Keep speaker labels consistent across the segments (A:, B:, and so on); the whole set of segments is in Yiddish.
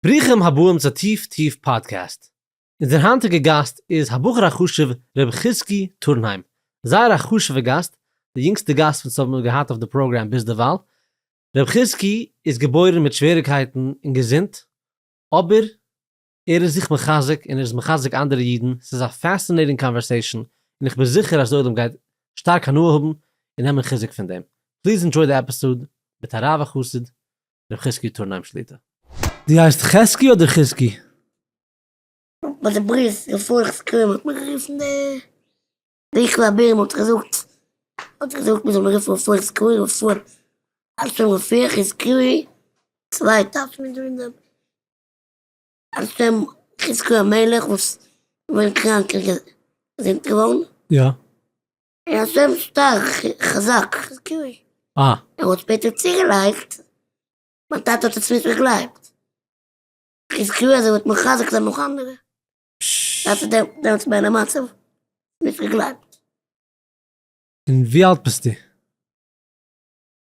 A: ברוכים הבאים צו טיף טיף פאדקעסט. אונזער היינטיגע גאסט איז הבחור החשוב ר' חזקי טורנהיים. זייער א חשובע גאסט, די יונגסטע גאסט וואס האבן מיר געהאט אויף די פראגראם ביז דערווייל. ר' חזקי איז געבוירן מיט שוועריקייטן אין געזונט, אבער ער איז זיך מחזק און ער איז מחזק אנדערע אידן, ס'איז א פעסינעיטינג קאנווערסעישאן און איך בין זיכער אז די עולם גייט שטארק הנאה האבן און נעמען חיזוק פון דעם. פליז ענדזשוי די עפיסאד מיט הרב החסיד ר' חזקי' טורנהיים שליטא. דו הייסט חזקי אדער חזקי?
B: ביי די ברית אין פרח סקרים האט מען גערופן די ביכל אבער מען האט געזאגט האט געזאגט מען זאל מיר רופן פרח סקרים פון על שם ר' פרח איז סקרי צוויי טייטש מען דא אין דעם על שם חזקי המלך וואס איז געווען קראנק און געזונט געווארן. יא.
A: ער איז
B: זייער שטארק חזק געווען. אה. ער האט
A: שפעטער
B: צוגעלייגט, מיין טאטע האט עס נישט געגלייבט. כ'האב געוויסט אז ער וועט מחזק זיין נאך אנדערע. דאס איז דעמאלטס מיין מצב, נישט געגלייבט. און
A: ווי אלט ביסטו?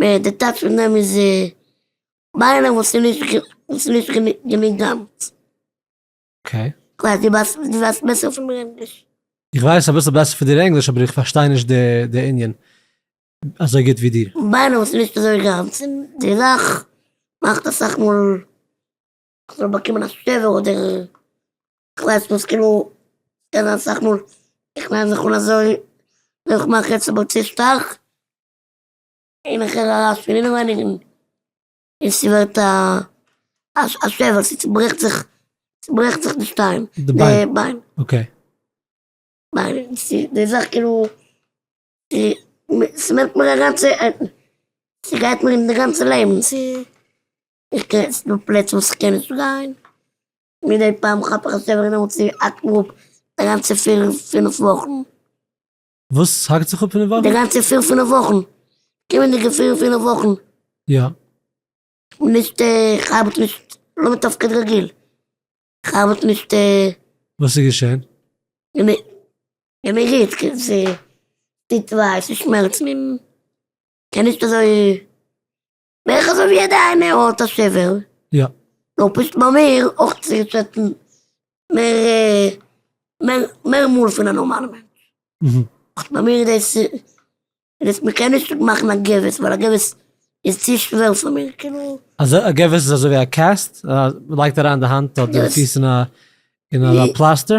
B: די טייטש פון דעם איז ביינער וואס איז נישט וואס איז נישט גענוג גאנץ. אקעי.
A: כ'ווייס דו ווייסט דו
B: ווייסט בעסער פון מיר ענגליש. איך ווייס אביסל
A: בעסער פון דיר ענגליש אבער איך פארשטיי נישט די ענין אזוי גוט ווי דיר. ביינער וואס איז נישט אזוי
B: גאנץ און די זאך מאכט אסאך מאל אז מ'זאל באקומען א שבר אדער כ'ווייס וואס כאילו ס'קען זיין אסאך מאל איך ניי זיך אן אזוי און איך מאך יעצט אבער צו שטארק. אין איך הער ארויס פון אינעווייניגן און ס'ווערט א א שבר, ס'צוברעכט זיך, ס'ברעכט זיך די שטיין, די ביין,
A: אקעי,
B: ביין, די זאך כאילו, ס'נעמט מיר א גאנצע, ס'גייט מיר אין די גאנצע לעבן, איך קען, ס'דא פלעצער וואס איך קען נישט גיין, מידי פעם כאפ איך א שבר און דעמאלטס האקט מיר אפ די גאנצע פיר פינף וואכן. וואס?
A: ס'האקט זיך אפ פון די וואכן? די גאנצע פיר פינף וואכן.
B: קומענדיגע פיר פינף וואכן. יא.
A: כ'בין
B: נישט כ'ארבעט נישט לא מתפקד רגיל. כ'ארבעט נישט. וואס איז
A: געשען? געמיר געמיר
B: גוט. ס'טוט וויי, ס'שמערצט מיר. כ'קען נישט אזוי. בערך אזוי ווי יעדע איינע האט א שבר. יא.
A: נאר פשוט ביי
B: מיר אויך צוריק זעצן מער מער מאל פון א נארמאלע מענטש. פשוט
A: ביי מיר איז
B: דאס מ'קען נישט מאכן א געוויס ווייל א געוויס איז צו שווער פאר מיר כאילו. אזוי א געוויס איז אזוי
A: ווי א קעסט? מ'לייגט אריין די האנט אדער די פיס אין א אין א פלאסטער?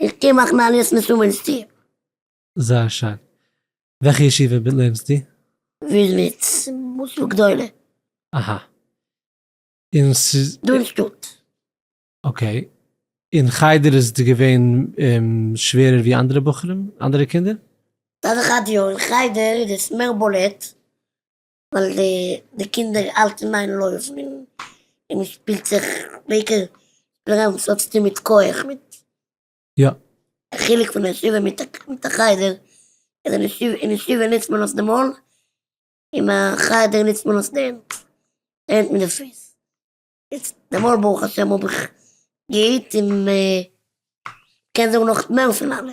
B: איך קען
A: מאכן
B: א ליסט מיט וואוינסטו? זייער שיין.
A: וועלכע ישיבה לערנסטו? וויזניץ
B: מוסדות גדולה. אהא.
A: און ס'איז. דא אין
B: שטאט. אקעי.
A: און חדר איז דיר געווען שווערער ווי אנדערע בחורים? אנדערע קינדער? מצד אחד
B: יא, אין חדר איז עס מער בולט, ווייל די קינדער האלטן מיין לויפן און מען שפילט זיך בעיקר דערנאך וואס האט צוטון מיט כח מיט יא.
A: די חילוק
B: פון א ישיבה מיט א חדר איז אין ישיבה נוצט מען נאך די מויל אין א חדר נוצט מען נאך די הענט די הענט מיט די פוס איז די מויל ברוך השם האב איך געהיט און קען זאגן נאך מער פון אלע.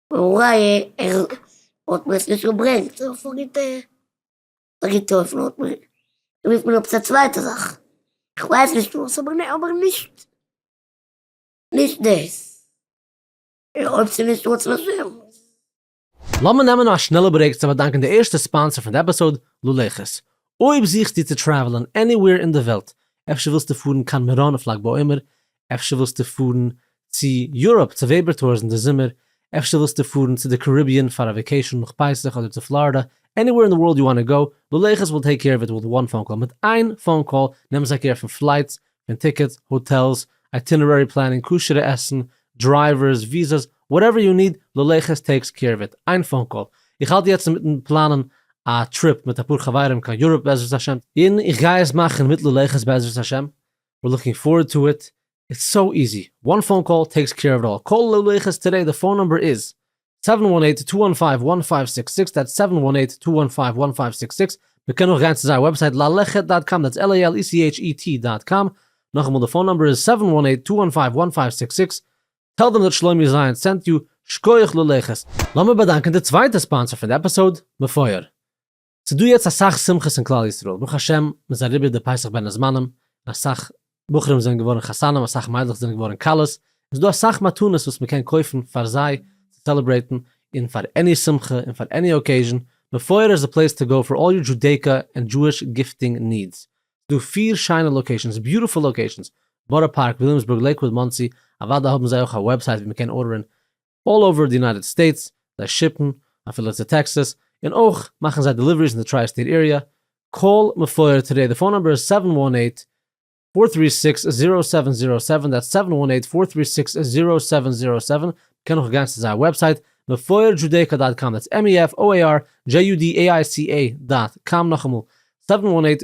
B: אולי ער האט מיר עס נישט געברענגט, איך האב פארגעט געטרויפן האט מען געמוזט נעמען עפעס א צווייטע זאך, איך ווייס נישט וואס אבער נע אבער נישט נישט דאס, אויב ס'איז נישט רצון השם.
A: לאמיר נעמען א שנעלע ברעיק צו באדאנקען די ערשטע ספאנסער פון די עפיסאוד, ללכת. אויב זוכסטו צו טרעוולען עניוועיר אין די וועלט, אפשר ווילסטו פארן קיין מירון אויף לג בעומר, אפשר ווילסטו פארן צו יוראפ צו וועבער טאורס אין די זומער, אפשר ווילסטו פארן צו די קאריביען פאר א וועקעישאן נאך פסח אדער צו פלארידא, עניווער אין די ווארלד יו וואנט טו גאו, לולייכעס וויל טעיק קעיר אוו איט וויט וואן פאון קאל, מיט איין פאון קאל נעמען זיי קעיר פון פלייטס, פון טיקעטס, האטעלס, אייטינערערי פלענינג, כשר'ע עסן, דרייווערס, וויזאס, וואטעווער יו ניד, לולייכעס טעיקס קעיר אוו איט, איין פאון קאל. איך האלט יעצט אינמיטן פלאנען א טריפ מיט אפאר חברים קיין יוראפ בעזרת השם, און איך גיי עס מאכן מיט לולייכעס בעזרת השם, ווער לוקינג פארעד טו איט, איטס סאו איזי, וואן פאון קאל טעיקס קעיר אוו איט אלל, קאל לוי לויכעס טודעי די פאון נומבער איז, סעווען וואן עיט טו וואן פייוו וואן פייוו סיקס סיקס, דעטס סעווען וואן עיט טו וואן פייוו וואן פייוו סיקס סיקס, מען קען אויך גיין צו זייער וועבסייט לאלעכעט דאט קאם, דעטס על איי על אי סי עיטש אי טי דאט קאם, נאכאמאל די פאון נומבער איז, סעווען וואן עיט טו וואן פייוו וואן פייוו סיקס סיקס, טעל דעם דאט שלומי זיין סענט יו, שקויעך לויכעס. לאמיר באדאנקען די צווייטע ספאנסער פון די עפיסאוד, מפואר. ס'איז דא יעצט אסאך שמחות אין כלל ישראל, ברוך השם מ'איז אריבער די פסח בין הזמנים, און אסאך בחורים זענען געווארן חתנים, אסאך מיידלעך זענען געווארן כלות, און ס'איז דא אסאך מתנות וואס מ'קען קויפן פאר זיי צו סעלעברעיטן, און פאר עני שמחה און פאר עני אקעיזשן, מפואר איז די פלעיס טו גאו פאר אלל יור דזשודעיקא ענד דזשואיש גיפטינג נידס. ס'איז דא פיר שיינע לאקעישאנס, ביוטיפול לאקעישאנס, בארא פארק, וויליאמסבורג, לעיקוואוד, מאנסי, אוודאי האבן זיי אויך א וועבסייט ווי מ'קען ארדערן אלל אווער די יונייטעד סטעיטס, זיי שיפן אפילו צו טעקסעס, און אויך מאכן זיי דעליוועריס אין די טריי סטעיט עיריע, קאל מפואר טודעי די פאון נומבער איז סעווען וואן עיט, פאר טרי סיקס, זירא סעווען זירא סעווען, דעטס סעווען וואן עיט, פאר טרי סיקס, זירא סעווען זירא סעווען, מ'קען אויך גיין צו זייער וועבסייט מפואר דזשודעיקא דאט קאם, דעטס MEFOIRJUDAICA דאט קאם, נאכאמאל, סעווען וואן עיט,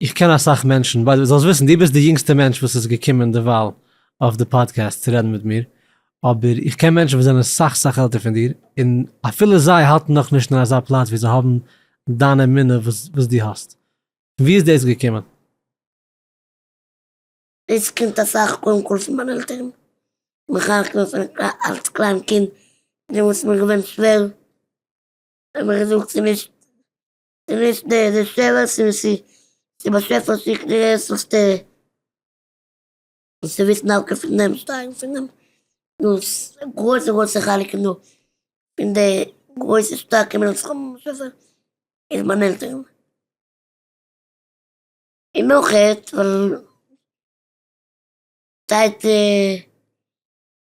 A: איך קען אסאך מענטשן, ביי די וועי זאלסט וויסן דו ביסט די יונגסטע מענטש וואס איז געקומען דערווייל אויף די פאדקעסט צו רעדן מיט מיר, אבער איך קען מענטשן וואס זענען סאך סאך עלטער פון דיר, און אפילו זיי האלטן נאך נישט אין אזא פלאץ ווי זיי האבן דיין אמונה וואס וואס דו האסט. פון ווי איז דאס געקומען? דאס קומט אסאך קודם כל פון מיינע עלטערן, מחנך געווען פון אלץ קליין קינד, דעמאלטס איז מיר געווען שווער, האבן מיר
B: געזאגט ס'איז נישט נישט די די שאלות און ס'איז די באשעפער שיקט די ענטפערס די וואס וויסן דווקא פון דעם שטייגן פון דעם דאס גרויסע גרויסע חלקים דא פון די גרויסע שטארקע מנצחים באשעפער איז מיין עלטערן און נאך עטס ווייל טייטע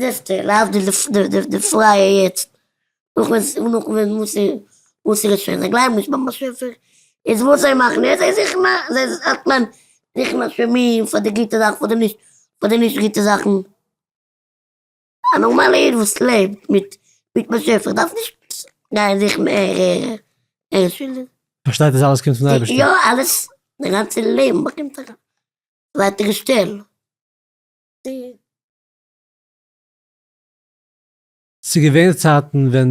B: זעסטע, להבדיל די פרייע יעצט, נאך ווען ס'איז נאך ווען מוסר מוסר איז שוין, זיי גלייבן נישט ביים באשעפער, איז וואס זיי מאכן יעצט, זיי זוכן א, זיי זאכן זוכן אשמים פאר די גוטע זאכן, פאר די נישט פאר די נישט גוטע זאכן. א נארמאלע איד וואס לעבט מיט מיט באשעפער דארף נישט גיין זוכן ער ער שולדיג. פארשטייט אז אלעס
A: קומט פון די אייבערשטער. יא אלעס,
B: די גאנצע לעבן באקומט א ווייטערע שטעל.
A: ס'איז געווען צייטן ווען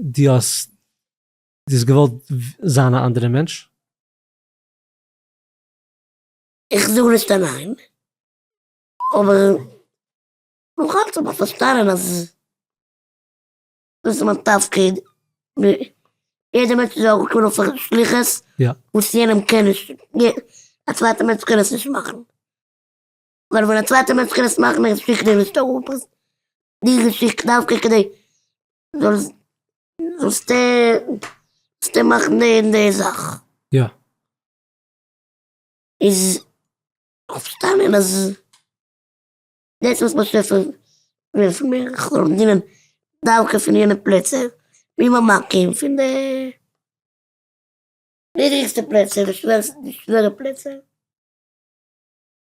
A: דו האסט דו האסט געוואלט זיין א אנדערע מענטש?
B: איך זאג נישט א ניין, אבער נאכאלץ דארף מען פארשטאנען אז דאס איז מיין תפקיד, יעדער מענטש איז אויך געבוירן אויף א שליחות וואס יענעם
A: קען
B: נישט, א צווייטע מענטש קען עס נישט מאכן. ווייל ווען א צווייטער מענטש קען עס מאכן א געשיכטע און נישט אראפרייסן די געשיכטע דווקא כדי זאלסט זאלסטו זאלסטו מאכן די און די זאך. יא. איז כ'האב פארשטאנען אז דאס וואס מען שרייבט פון ווען פון מיר איך זאל דינען דווקא פון יענע פלעצער ווי מיין מקום פון די נידריגסטע פלעצער די שווערסטע די שווערע פלעצער.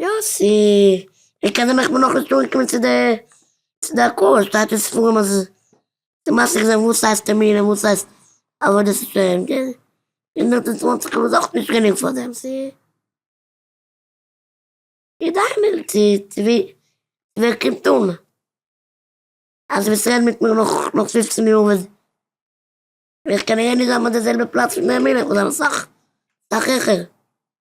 B: יא סי ווער קען דעם איך בין נאכנישט אנגעקומען צו די צו די עקור שטייט אין ספרים אז די מעשה געזען וואס הייסט טערמינען וואס הייסט עבודת השם געזען הונדערט און צוואנציג כ'בין אויך נישט גענוג פאר דעם סי כדאי מיר צו צו ווי ווער קומט אן אז דו וועסט רעדן מיט מיר נאך נאך פופצן יאר ווען ווען כ'קען אהער נישט זיין ביי די זעלבע פלאץ מיט נעמי ל כ'בין זיין אסאך אסאך העכער.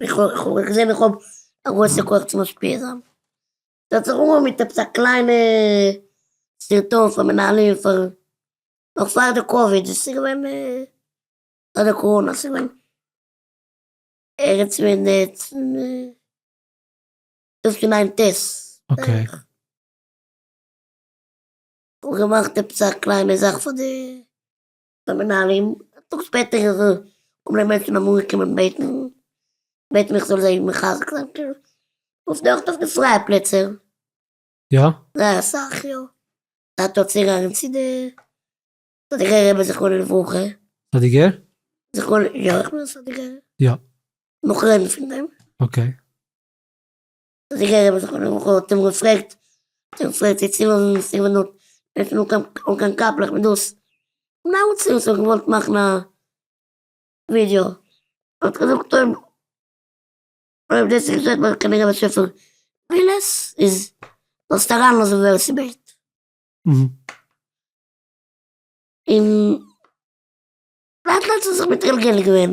B: איך האב געזען איך האב א גרויסע כח צו משפיע זיין. זאלסט זיך אנהויבן מיט עפעס א קליינע סרטון פאר מנהלים פאר נאך פאר די קאוויד דאס איז געווען פאר די קאראנע עס איז געווען ערגעץ ווען דאס פון איין ט ס בערך. כ'האב געמאכט עפעס א קליינע זאך פאר די די מנהלים, א טאג שפעטער איז ער האבן די מענטשן אמאל געקומען בעטן, בעטן איך זאל זיי מחזק זיין, וואס דארט אויף די פרייע פלעצער? יא?
A: זייער אסאך
B: יא, זייט דארט צו גאנגען צו די סאדיגער רבי זכרונו לברכה. סאדיגער?
A: זכרונו, יא
B: איך בין א סאדיגער. יא.
A: נאך רעדן
B: פון דעם. אקעי. זיגער רבי זכרונו לברכה האט אים געפרעגט האט אים געפרעגט צו צולאזן די ספר דארט אינמיטן אן קיין קאפלעך מיט דאס נאמען צו וואס ער האט געוואלט מאכן א ווידיאו האט געזאגט אויב אויב דאס איז געשעט וועל איך קענען געבן וויפיל מילות איז זאלסט אריינלאזן ווער ס'בעט און לאט לאט איז ער זיך מתגלגל געווען.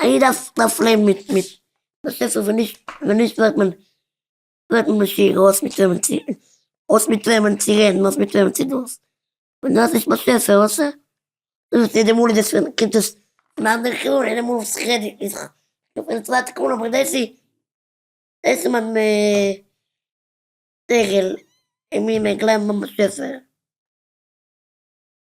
B: א איד דארף לעבן מיט מיט באשעפער ווען נישט ווען נישט ווערט מען ווערט מען משוגע אויס מיט וועמען צו אויס מיט וועמען צו רעדן אויס מיט וועמען צו דאס ווען דו האסט נישט באשעפער וואס ע דאס איז די מאל איז עס ווען קומט עס פון אנדערע כיוון און די מאל וואס איך רעד איז איך בין צווייטע כיוון אבער דאס איז דאס איז מיין שכל און מיר מעג לעבן ביים באשעפער.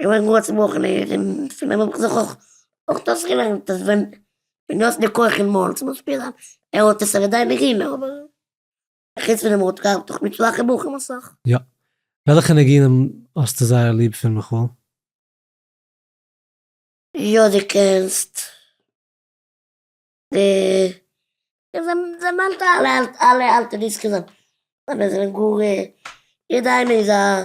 B: כ'בין גאר צעבראכן און פון דעם האב איך זיך אויך דאס געלערנט אז ווען דו האסט די כח אין מויל, צום ביישפיל א ער האט עס אוודאי נישט גענומען אבער חוץ פון דעם ער האט געהאט דאך מיט שוואכע בחורים אסאך. יא. וועלכע
A: ניגונים האסטו זייער ליב פון מיכאל?
B: יא די קענסט די דערמאנטע אלע אלע אלטע דיסקס זיינע זענען גאר יעדע איינע איז א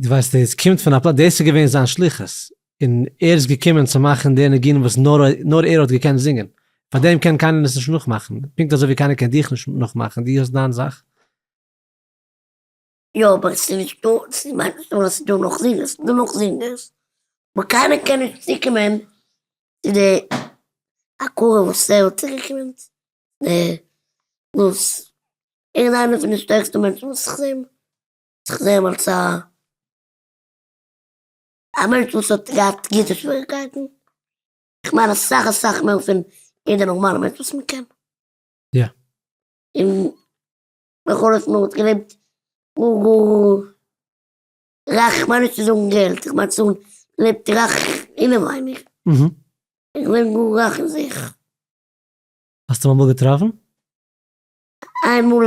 A: דו ווייסט עס קומט פון א פלאץ דאס איז געווען זיין שליחות און ער איז געקומען צו מאכן די ניגונים וואס נאר נאר ער האט געקענט זינגען, פאר דעם קען קיינער עס נישט נאכמאכן, פונקט אזוי ווי קיינער קען דיך נישט נאכמאכן, דו האסט דיין זאך. יא אבער עס איז נישט
B: דא, עס איז מיין חשבון אז עס איז דא נאך זינגערס, עס איז דא נאך זינגערס, אבער קיינער קען נישט צוקומען צו די הכרה וואס ער האט צוגעקומען צו די וואס ער איז איינער פון די שטערקסטע מענטשן וואס איך זעה. איך זעה אמאלטס א א מענטש וואס האט געהאט גוטע שוועריגקייטן, כ'מיין אסאך אסאך מער פון יעדע נארמאלע מענטש וואס מען קען. יא.
A: און
B: בכל אופן ער האט געלעבט גאר גאר רייך, כ'מיין נישט צו זאגן געלט, כ'מיין צו האבן געלעבט רייך אינעווייניג.
A: געווען גאר
B: רייך אין זיך.
A: האסט אים אמאל געטראפן? איינמאל.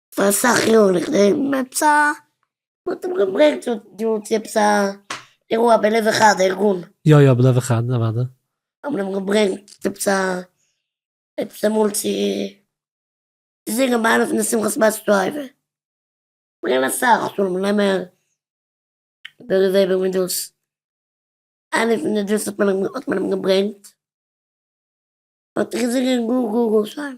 B: פאר אסאך יארן איך נעם עפעס א. מ'האט אים געברענגט צו דא צו עפעס א אירוע בלב אחד ארגון. יא יא בלב אחד
A: אוודאי. האבן אים געברענגט
B: צו עפעס א עפעס אמאל צו זינגען ביי איינע פון די שמחת בית שואבה. ברענגען אסאך שלום לעמער, בערי וועבער מיט דאס. איינע פון די דאס האט מען אים געברענגט. האט געזינגען גאר גאר גאר שיין.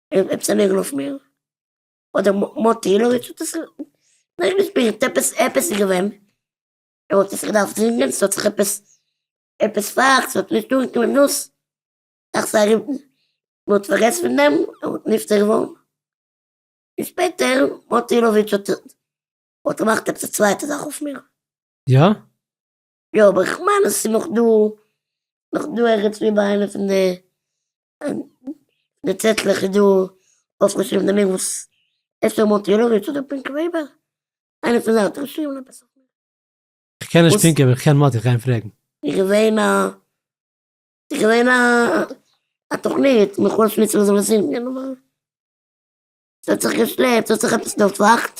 A: ער וועט
B: צעלערן אויף מיר? אדער מוטי אילאוויטש האט עס נאך געשפירט עפעס עפעס איז געווען, ער האט עס געדארפט זינגען, ס'האט זיך עפעס עפעס פארהאקט, ס'האט נישט דורכגעקומען נאס, דאכט זיך ארום מען האט פארגעסן פון דעם, ער האט נפטר געווארן, און שפעטער מוטי אילאוויטש האט האט געמאכט עפעס א צווייטע זאך אויף מיר. יא?
A: יא
B: אבער איך מיין אז ס'איז נאך דא, נאך דא ערגעץ וואו ביי איינע פון די די צעטלעך איז דא אויפגעשריבן די ניק וואס אפשר מאנטיראוויטש אדער פינקי וועבער, איינע פון זיי האט געשריבן עפעס אויף מיר. כ'קען נישט
A: פינקי אבער כ'קען מאטי כ'גיי אים פרעגן. איז געווען א
B: איז געווען א א תוכנית מיט חוה שמוצער און זאל עס זינגען אבער ס'האט זיך געשלעפט ס'האט זיך עפעס דערפאכט.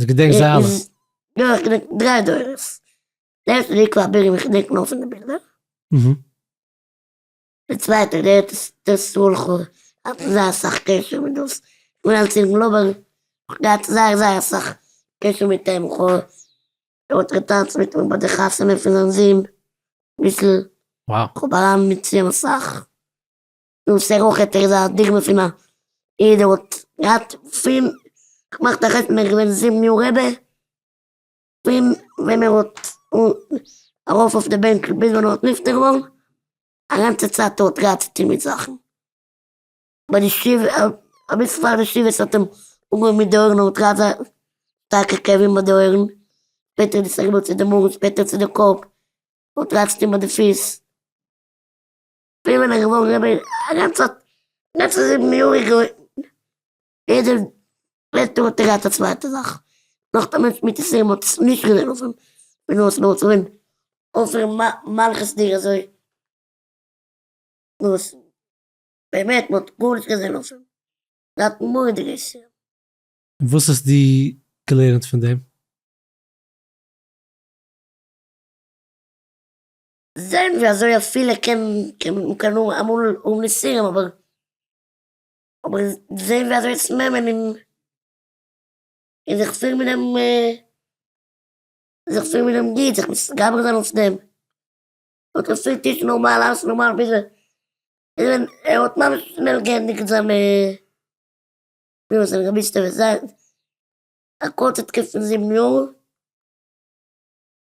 A: אז געדענק זיי אלע. יא איך געדענק
B: דריי דורות, די ערשטע די עיקר הבירה וואס כ'דענק נאר פון די בילדער, די צווייטע די ארץ ישראל כו', האט מען זייער אסאך קשר מיט דאס, כ'בין אלס אינגל אבער כ'האב געהאט זייער זייער אסאך קשר מיט אים, כ'האט געטאנצט מיט אים ביי די חתונה פון זיין זון, אביסל, כ'האב אריין
A: מיט אים
B: אסאך. דאס איז אויך עפעס א דוגמא פון א איד וואס האט געהאט פון געמאכט א חתונה איז געווען זיבן יאר רעבע, פון ווען ער האט ארויף אויף די בענק ביז ווען ער האט נפטר געווארן, א גאנצע צייט האט געהאט צו טון מיט זאכן, ביי די שבעה אביסל פאר די שבעה האט אים אנגעהויבן מיט די אויערן ער האט געהאט זייער שטארקע כאבים ביי די אויערן, שפעטער איז עס אריבער צו די מאגן שפעטער צו די קאפ, ער האט געהאט צו טון ביי די פיס. פריער בין איך געווארן רבי א גאנצע לעצטע זיבן יאר איך געלערנט יעדע לעצטע יאר האט ער געהאט א צווייטע זאך נאך דעם ווען שמיטה סיום האט עס נישט געזען אויף אים פון אויס נאר צו אים אויסער מלכות דיר אזוי וואס באמת מען האט גארנישט געזען אויף אים זייט מורה דרך סיום. און וואס
A: האסט דו געלערנט פון דעם?
B: זעהן ווי אזוי אפילו קען מ'קען אמאל האבן איסורים אבער אבער זעהן ווי אזוי עס נעמען און און זיך פירן מיט דעם זיך פירן מיט דעם גוט זיך מתגבר זיין אויף דעם האט ער פילט נישט נארמאל אלעס נארמאל ביז ער ווען ער האט ממש שנעל געענדיגט זיין זיין רבי'סטעווע זייט א קורצע תקופה פון זיבן יאר.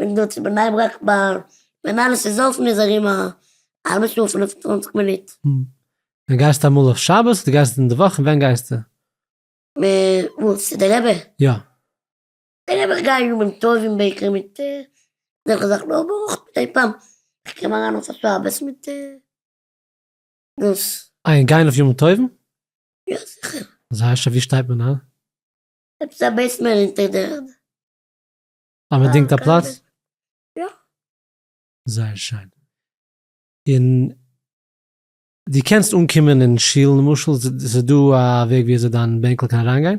B: איך דא צו בני ברק ביי מנהל עס איז אפן איז ארום א האלבע שעה פינף און צוואנציג מינוט. ווען גייסטו אמאל
A: אויף שבת אדער גייסטו אין די וואך און ווען גייסטו? וואו?
B: צו די רבי? יא.
A: די רבי
B: איך גיי ימים טובים בעיקר מיט אזעלכע זאכן אבער אויך מדי פעם איך קום אריין אויף א שבת מיט דאס. איי און גיין אויף ימים טובים?
A: יא
B: זיכער. אזוי אזש ווי שטייט
A: מען איין? עפעס א
B: בעיסמענט אינטער די ערד.
A: א באדינגטע פלאץ? יא. זייער שיין. און דו קענסט אנקומען אין שול למשל, ס'איז דא א וועג ווי אזוי דיין בענקל קען אריינגיין?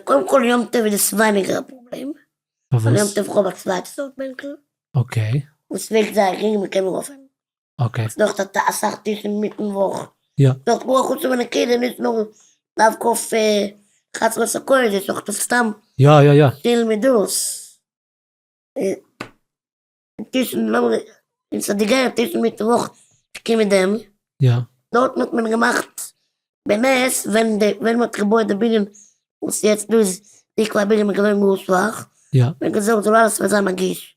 A: קודם
B: כל יום טוב איז עס ווייניגער א פראבלעם, ווייל יום טוב כ'האב א צווייטע סארט בענקל, און
A: ס'וועגט זייער
B: גרינג און מ'קען ארויפהייבן. אקעי. נאך די
A: ת א אסאך
B: טישן מיטן וואך. יא. נאך גאר חוץ
A: פון די
B: קעלער נישט נאר דווקא אויף חצרות הקודש אויך אויף סתם. יא יא יא. שטיל
A: מדות.
B: טישן לאמיר אין סאדיגער טישן מיטן וואך שטיקים מיט דעם. יא. דארטן
A: האט מען
B: געמאכט בנס ווען די ווען מ'האט געבויעט די בנין וואס יעצט דא איז דיקא א בנין מ'געווען גאר שוואך. יא. מ'געזארגט זאל אלעס וועט זיין נגיש.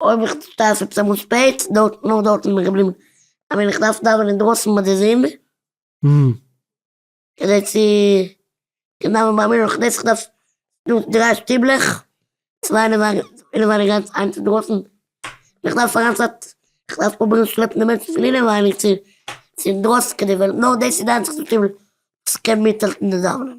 B: אויב איך שטארב עפעס אמאל שפעט, דארט, נאר דארט איז מיר געבליבן אז ווען איך דארף דאווענען דרויסן ביי די זון, כדי צו קענען דאווענען ביי מיר, אויך דאס, איך דארף דא דריי שטיבלעך, צוויי אינעווייניג איינס אינדרויסן, און איך דארף פאר איין צייט, איך דארף פרובירן שלעפן די מענטשן פון אינעווייניג צו אינדרויסן, כדי ווען נאר דאס איז די איינציגסטע שטיבל וואס קען מיטהאלטן די דאווענען.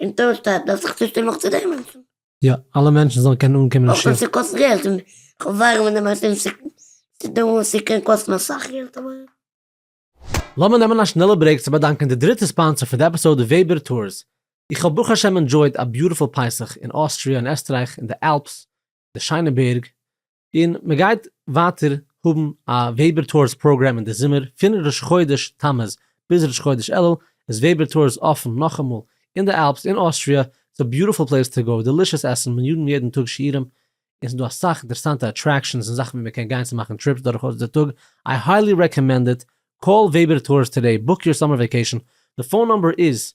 B: אין טאון שטאט דארף זיך
A: צושטעלן נאך צו דעם מענטשן. יא, אלע מענטשן זאלן קענען אנקומען אין שיעור. אויך ווען ס'קאסט
B: געלט, און כ'ווארן ווען די מעשים ס'איז דא וואס ס'קען קאסטן אסאך
A: געלט אבער. לאמיר נעמען א שנעלע ברעיק צו באדאנקען די דריטע ספאנסער פון די עפיסאוד וועבער טורס. איך האב ברוך השם ענדשויד א ביוטיפול פסח אין אוסטריא און עסטרייך אין די אלפס, די שיינע בערג, און מען גייט ווייטער האבן א וועבער טאורס פראגראם אין די זומער, פון ראש חודש תמוז ביז ראש חודש אלול איז וועבער טאורס אפן נאכאמאל, אין די אלפס אין אוסטריא, ס'איז א ביוטיפול פלעיס טו גאו, דעלישעס עסן, מנג'ן יעדן טאג שיעורים, און ס'איז דא אסאך אינטערעסאנטע אטרעקשאנס און זאכן ווי מען קען גיין צו מאכן טריפס דורכאויס די טאג, איי היילי רעקאמענד איט, קאל וועבער טאורס טאדעי, בוק יור סאמער וועקעישאן, די פאון נומבער איז,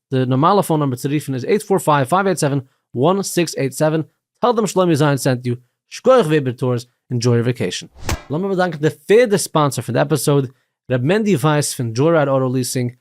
A: די נארמאלע פאון נומבער צו רופן איז עיט פאר פייוו פייוו עיט סעווען וואן סיקס עיט סעווען, טעל דעם שלומי זיין סענט יו, שקויעך וועבער טורס, אינדזשוי יור וועקעישן. לאמיר באדאנקן די פערדע ספאנסער פון די עפיסאוד, ר' מענדי ווייס פון דזשויראד אוטא ליעסינג,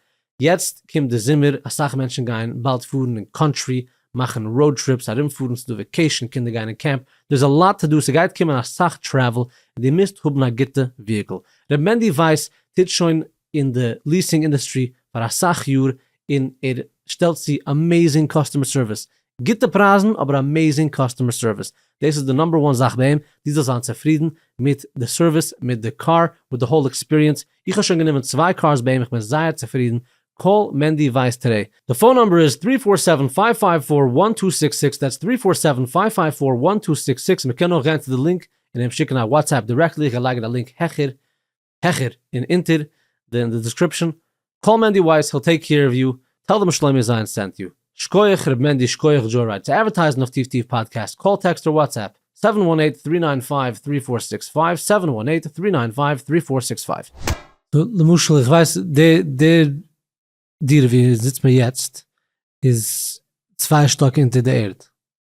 A: יעצט קומט די זומער, אסאך מענטשן גייען באלד פארן אין קאנטרי, מאכן ראוד טריפס, ארומפארן, ס'איז דא וועקעישן, קינדער גייען אין קעמפ, דער איז א לאט טו דו, ס'גייט קומען אסאך טרעוול, און דו מוזט האבן א גוטע וויהיקל, ר' מענדי ווייס טוט שוין אין די ליעסינג אינדוסטרי פאר אסאך יאר און ער שטעלט צו אמעזינג קאסטומער סערוויס, גוטע פרייזן אבער אמעזינג קאסטומער סערוויס, דאס איז די נאמבער וואן זאך ביי אים, דו זאלסט זיין צופרידן מיט די סערוויס, מיט די קאר, מיט די האול עקספיריענס, איך האב שוין גענומען צוויי קארס ביי אים איך בין זייער צופרידן, קאל מענדי ווייס טודעי, די פאון נאמבער איז טרי פאר סעווען פייוו פייוו פאר וואן טו סיקס סיקס, דעטס טרי פאר סעווען פייוו פייוו פאר וואן טו סיקס סיקס, מען קען אויך גיין צו די לינק און אים שיקן א וואטסעפפ דירעקטלי, איך גיי לייגן א לינק העכער. העכער און אונטער אין די דעסקריפשען, קאל מענדי ווייס היל טעיק קעיר אוו יו, טעל דעם שלומי זיין סענט יו, שקויעך ר' מענדי שקויעך דזשאו רייד צו אדווערטייזן אויף טיף טיף פאדקעסט, קאל טעקסט אר וואטסעפפ, סעווען וואן עיט טרי ניין פייוו טרי פאר סיקס פייוו, סעווען וואן עיט טרי ניין פייוו טרי פאר סיקס פייוו. למשל איך ווייס די די דירה ווי זיצט מיר יעצט איז צוויי שטאק אונטער די ערד,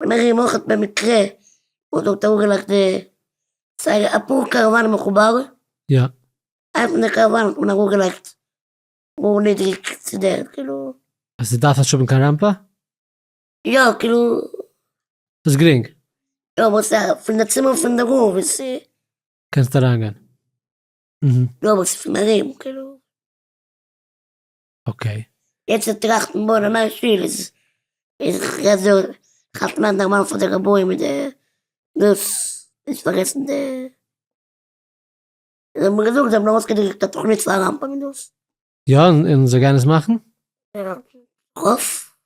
B: בין איך אים אויך במקרה און דארט אנגעלייגט די סייגער אפאר קאראוואנען מחובר. יא.
A: איינס פון די
B: קאראוואנען האט מען אראפגעלייגט גאר נידריג צו די ערד כאילו. אז עס דארף נישט האבן
A: קיין ראמפע? יא
B: כאילו. ס'איז
A: גרינג. יא אבער ס'איז א
B: פון די צימער פון די רב און ס'איז. קענסט
A: אריינגיין. אהה.
B: יא אבער ס'איז פון ארום כאילו.
A: אקעי. יעצט צו טראכטן
B: בויען א נייע שול איז כ'רעד דא כ'האלט מער נארמאל פאר די רביים מיט די דאס נישט פארגעסן די זיי האבן געזאגט זיי האבן ארויס געדרוקט א תוכנית פאר א רמב ם און דאס. יא און זיי
A: גייען עס מאכן?
B: כ'האף.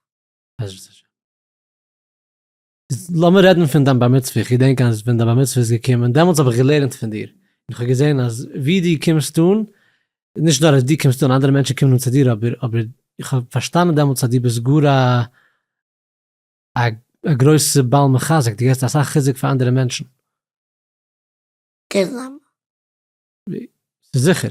A: בעזרת השם. לאמיר רעדן פון דיין בר מצוה, איך געדענק אז ווען דיין בר מצוה איז געקומען, דעמאלטס האב איך געלערנט פון דיר, און איך האב געזען אז ווי דו קומסט אן, נישט נאר אז דו קומסט אן, אנדערע מענטשן קומען אן צו דיר, אבער אבער איך האב פארשטאנען דעמאלטס אז דו ביסט גאר א א א גרויסע בעל מחזק, דו געבסט אסאך חיזוק פאר אנדערע מענטשן. די זעלבע. ס'איז
B: זיכער.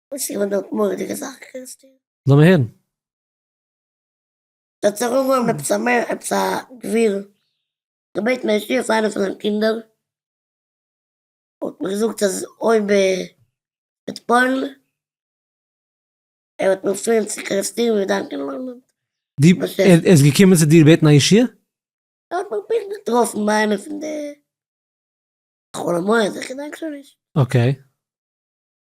B: וואס איז געווען די
A: מורא'דיגע זאך
B: קענסטו? לאמיר הערן. דער צדיק האט געהאבן עפעס א מער עפעס א גביר געבעטן א ישועה פאר איינע פון זיינע קינדער, האט מען געזאגט אז אויב ער וועט פועל'ן ער וועט אים פירן צו קערעסטיר ווי דיין קינד ליידט די ב ש. ער
A: איז געקומען צו דיר בעטן א ישועה? ער האט מיך
B: פונקט געטראפן ביי איינע פון די חול המועד איך געדענק שוין נישט. אקעי.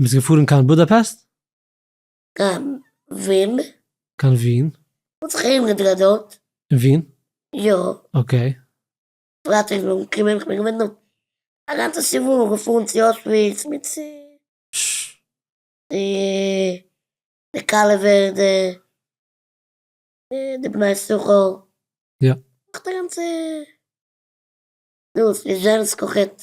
A: ביסט געפארן קיין בודאפעסט? קיין
B: ווין. קיין ווין.
A: האט זיך איינגעדרייט
B: דארט. אין ווין?
A: יא. אקעי. פרייטאג
B: נאכן קומען איך בין געווען דארט א גאנצע שבוע געפארן צו אוישוויץ מיט צו די כלה ווערדע און די בני ששכר. יא.
A: נאך די גאנצע
B: דאס ליזשענסק אויכעט.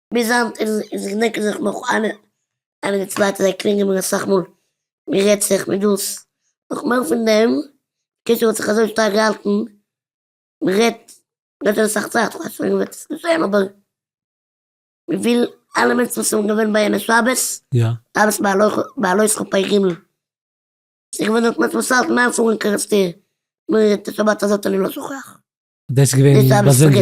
B: ביז היינט איז איז איך דענקען זיך נאך איינער איינער די צווייטע זיי קלינגען מיר אסאך מאל מיר רעדט זיך מיט דאס נאך מער פון דעם קשר האט זיך אזוי שטארק געהאלטן מען רעדט רעדט שוין אסאך צייט כ'ווייס שוין וועט עס געשען אבער מ'וויל אלע מענטשן וואס זענען געווען ביי יענע שבת רב'ס בעלות חופי ג' ס'איז געווען דארט מענטשן וואס האלטן איינס אן קערעסטיר נאר את השבת הזאת אני לא שוכח דאס איז געווען באזונדער.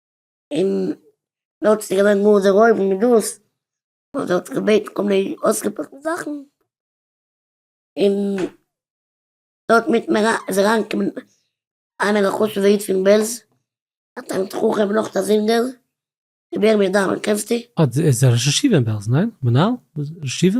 B: און דא האט זיך געווען גאר דערהויבן מיט דאס וואס ער האט געבעטן כל מיני אויסגעפארשטע זאכן, און דא האט מיטן איז אריינגעקומען איינער א חשוב'ע איד פון בעלז, א תלמיד חכם, נאך א זינגער, רבי ירמי' דארמער קענסטו? אה, דער איז א ראש ישיבה
A: אין בעלז, ניין? מנהל? ראש ישיבה?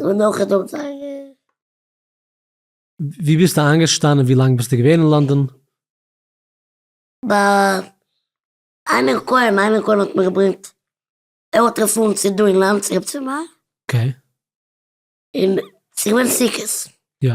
B: און נאך איז דא זייער.
A: ווי ביסטו איינגעשטאנען ווי לאנג ביסטו געווען אין לאנדאן?
B: ביי איינער כהן, איינער כהן האט מיר געברענגט, ער האט רעפערענס צו דא אין לאנד צו רב צבי מאיר. אקעי.
A: און
B: ס'איז געווען סוכות. יא.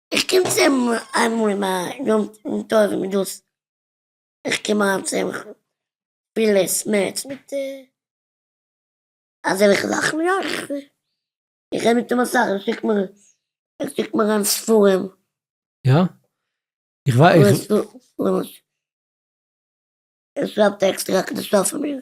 B: איך קום צו אים איינמאל אין א יום טוב און דאס איך קום אריין צו אים פילע סמעטס מיט אזעלכע זאכן יא איך רעד מיט אים אסאך ער שיקט מיר ער שיקט מיר אריין ספרים. יא?
A: איך ווייס. ער
B: שרייבט עקסטער הקדשה פאר מיר.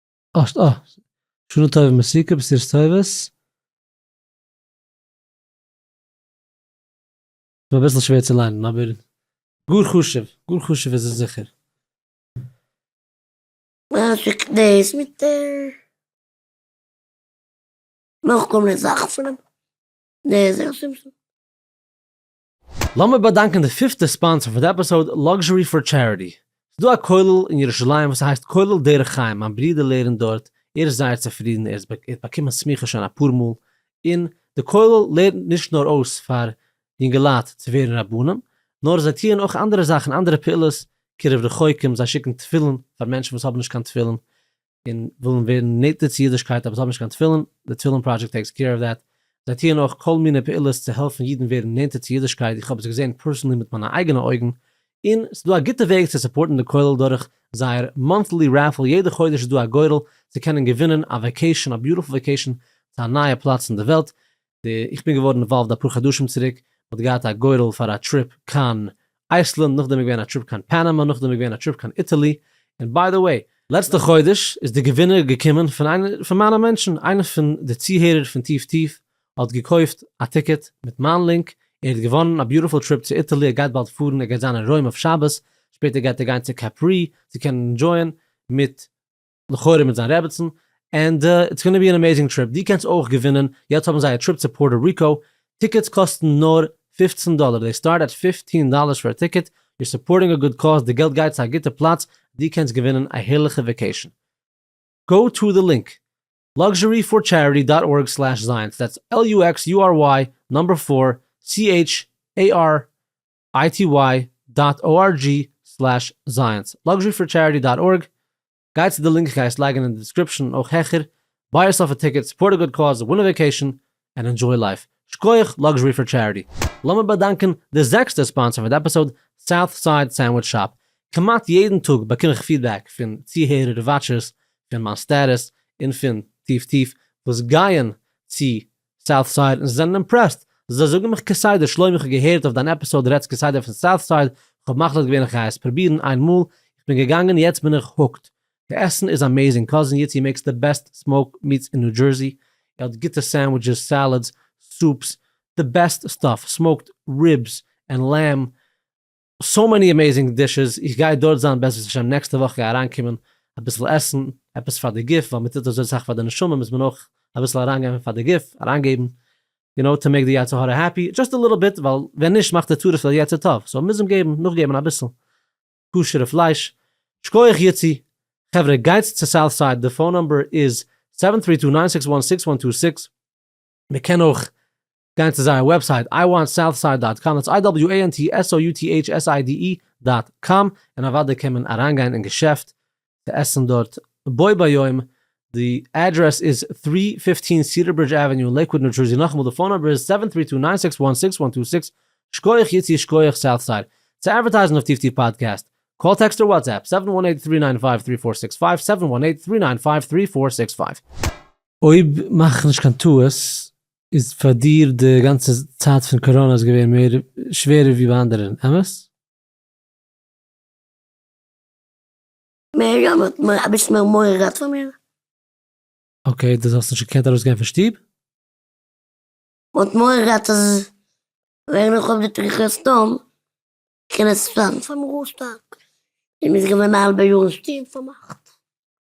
A: האסט א שנה טובה מסוכה בסירות טובות. ס'איז מיר אביסל שווער צו ליינען אבער גאר חשוב, גאר חשוב איז עס זיכער. משאכ דאס מיט די נאכגעקומענע
B: זאכן פונעם נזר שמשון.
A: לאמיר באדאנקען די פיפטע ספאנסער פאר די עפיסאוד, Luxury for Charity. ס'איז דא א כולל אין ירושלים וואס הייסט כולל דרך חיים, מיין ברודער לערנט דארט, ער איז זייער צופרידן, ער האט באקומען סמיכה שוין אפאר מאל, און די כולל לערנט נישט נאר אויס פאר יונגעלייט צו ווערן רבנים, נאר זיי טוען אויך אנדערע זאכן, אנדערע פעולות, קירוב רחוקים, זיי שיקן תפילין פאר מענטשן וואס האבן נישט קיין תפילין, און ווילן ווערן נעטער צו אידישקייט אבער זיי האבן נישט קיין תפילין, די תפילין פראדזשעקט טעיקס קעיר אוו דעט, זיי טוען אויך כל מיני פעולות צו העלפן אידן ווערן נענטער צו אידישקייט, איך האב עס געזען פערסענלי מיט מיינע אייגענע אויגן, און ס'איז דא א גוטע וועג צו סופארטן די כולל דורך זייער מאנטלי רעפעל, יעדע חודש איז דא א גורל צו קענען געווינען א וועקעישאן, א ביוטיפול וועקעישאן צו א נייע פלאץ אין די וועלט, איך בין געווארן אינוואלווד אפאר חדשים צוריק, מ'האט געהאט א גורל פאר א טריפ קיין אייסלענד, נאכדעם איז געווען א טריפ קיין פאנאמא, נאכדעם איז געווען א טריפ קיין איטעלי, און ביי די וועי, לעצטע חודש איז די געווינער געקומען פון איינע פון מיינע מענטשן, איינע פון די צוהערער פון טיף טיף האט געקויפט א טיקעט מיט מיין לינק, ער האט געוואנען א ביוטיפול טריפ צו איטעלי, ער גייט באלד פארן, ער גייט זיין אין רוים אויף שבת, שפעטער גייט ער גיין צו קעפרי צו קענען ענדשויען מיט לכאורה מיט זיין רעבעצן, ענד איטס גאנא בי ען אמעזינג טריפ, דו קענסט אויך געווינען, יעצט האבן זיי א טריפ צו פארטא ריקא, טיקעטס קאסטן נאר פֿופֿצן דאלער, דעי סטארט עט פֿופֿטין דאלערס פער טיקעט, יור סופארטינג א גוד קאוז, די געלט גייט צו א גוטע פלאץ, דו קענסט געווינען א הערליכע וועקעישן. גאו טא די לינק, luxuryforcharity דאט ארג סלעש זיינס, דעטס LUXURY נומבער פֿיר CHARITY איי-טי-וויי דאט או אר דזשי סלעש זייענס לאקזשערי פאר טשעריטי דאט ארג גיי צו די לינק איך גיי עס לייגן אין די דיסקריפשן און אויך העכער ביי יורסעלף א טיקעט סופארט א גוד קאוז ווין א וועקעישן ענד אינדזשוי לייף שקויעך לאקזשערי פאר טשעריטי. לאמיר באדאנקען די זעקסטע ספאנסער פון די עפיסאוד, סאוט סייד סענדוויטש שאפ. כמעט יעדן טאג באקום איך פידבעק פון צוהערער און וואטשערס פון מיין סטעטוס און פון טיף טיף וואס גייען צו סאוט סייד און זיי זענען אימפרעסט, זיי זאגן מיך כסדר שלום איך האב געהערט אויף דיין עפיסאוד דו רעדסט כסדר פון סאוט סייד, איך האב מחליט געווען איך גיי עס פרובירן איין מאל, איך בין געגאנגען יעצט בין איך הוקד, די עסן איז אמעזינג, קאזין איצי מעקס די בעסט סמאוק מיטס אין ניו דזשערסי, ער האט גוטע סענדוויטשעס, סעלעדס, סופס, די בעסט סטאף, סמאוקד ריבס, ענד לעמב, סאו מעני עמעזינג דישעס, איך גיי דארט זיין בעזרת השם נעקסטע וואך גיי אריינקומען אביסל עסן, עפעס פאר די גוף, ווייל מען טוט אזוי סאך פאר די נשמה מוז מען אויך אביסל אריינגעבן פאר די גוף, אריינגעבן, יו נאו טו מעיק די יצר הרע העפי, דזשאסט א ליטל ביט, ווייל ווען נישט מאכט די טורף די יצר טוב, סאו מוז מען געבן, נאכגעבן אביסל כשר'ע פלייש. שקויעך יצי. חברה גייטס צו סאוט סייד די פאון נומבער איז, סעווען טרי טו ניין סיקס וואן סיקס וואן טו סיקס, מען קען אויך גיין צו זייער וועבסייט איי וואנט סאוטסייד דאט קאם איטס איי דאבעליו איי ען טי עס או יו טי עיטש עס איי די אי דאט קאם און אוודאי קען מען אריינגיין אין געשעפט צו עסן דארט בו ביום די אדרעס איז טרי פיפטין סידער ברידזש עוועניו לעיקוואד ניו דזשערסי נאכאמאל די פאון נומבער איז סעווען טרי טו ניין סיקס וואן סיקס וואן טו סיקס שקויעך איצי שקויעך סאוטסייד צו אדווערטייזן אויף טיפטי פאדקעסט קאל טעקסט אר וואטסעפפ סעווען וואן עיט טרי ניין פייוו טרי פאר סיקס פייוו סעווען וואן עיט טרי ניין פייוו טרי פאר סיקס פייוו. אויב מאך איך נישט קיין טעות איז פאר דיר די גאנצע צייט פון קאראנא איז געווען מער שווערער ווי ביי אנדערען, אמת? מער אמת, נאר אביסל
B: מער מורא געהאט פאר מיר.
A: אקעי, דאס האסט נישט געקענט ארויסגיין פון שטוב?
B: מען האט מורא געהאט אז ווען איך האב די תריחי סדום קען עס זיין פאר מיר אויסטארק, און מ'איז געווען א האלבע יאר אין שטוב פארמאכט.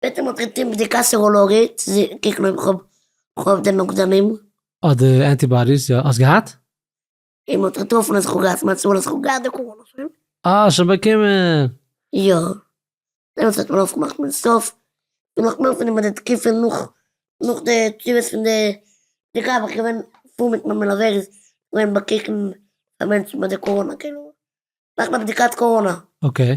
B: וועט אים אויך געטון בדיקת סעראלאגי צו קוקן אויב איך האב די נוגדנים. אדער
A: אנטיבאדיס, יא האסט געהאט? און מען האט
B: געטראפן אז איך האב געהאט מצב אז איך האב געהאט די קאראנא שוין. אה שוין
A: באקומען. יא.
B: דעמאלטס האט מען אויפגעמאכט מיין סטאף, און נאך מער פון איבער די תקופה נאך נאך די תשובות פון די די גאב ד איך געווען פאר מיט מיין מלווה איז געווען באקוקן פאר מענטשן ביי די קאראנא כאילו מאכן א בדיקת קאראנא. אקעי.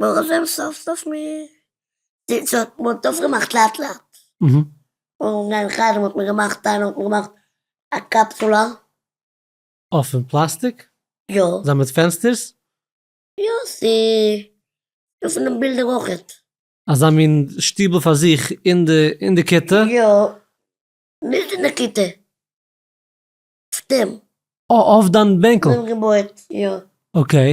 B: ברוך השם סוף סוף מ די האט מ'האט אויפגעמאכט לאט לאט,
A: און אין
B: חדר האט מען געמאכט איינער האט מיר געמאכט א קאפסולא. אה פון
A: פלאסטיק? יא. זיי מיט
B: פענסטערס?
A: יא
B: ס'איז דא פון דעם בילדער אויכעט. אזא מין
A: שטיבל פאר זיך אין די אין די כיתה? יא.
B: נישט אין די כיתה. אויף דעם. אה אויף דיין
A: בענקל. אויפגעבויעט, יא.
B: אקעי.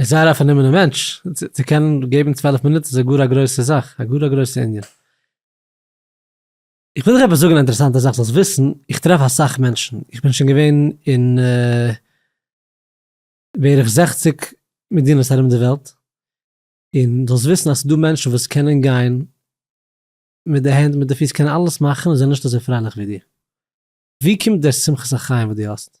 A: איז זייער א פארנומענע מענטש, צו קענען געבן צוועלף מינוט איז גאר א גרויסע זאך, א גאר א גרויסע ענין. איך וויל דיך עפעס זאגן א אינטערעסאנטע זאך זאלסט וויסן, איך טרעף אסאך מענטשן, איך בין שוין געווען אין בערך זעכציג מדינות ארום די וועלט, און זאלסט וויסן אז ס'דא מענטשן וואס קענען גיין מיט די הענט מיט די פיס קענען אלעס מאכן און זענען נישט אזוי פרייליך ווי דיר. ווי קומט דער שמחת החיים וואס דו האסט?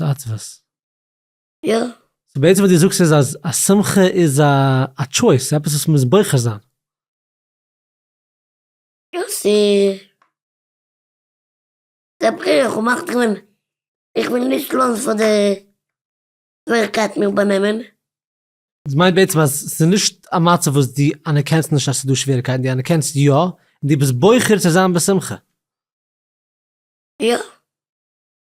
A: עצבות.
B: יא. סאו בעצם וואס
A: דו זאגסט איז אז א שמחה איז א טשויס, עפעס וואס מ'מוז בוחר זיין. יא,
B: ס'איז א בחירה איך האב מאכט געווען איך וויל נישט לאזן פאר די שוועריקייטן מיך באנעמען. דאס
A: מיינט בעצם אז ס'איז נישט א מצב וואס דו אנערקענסט נישט אז ס'איז דא שוועריקייטן, דו אנערקענסט יא, און דו ביסט בוחר צו זיין בשמחה. יא.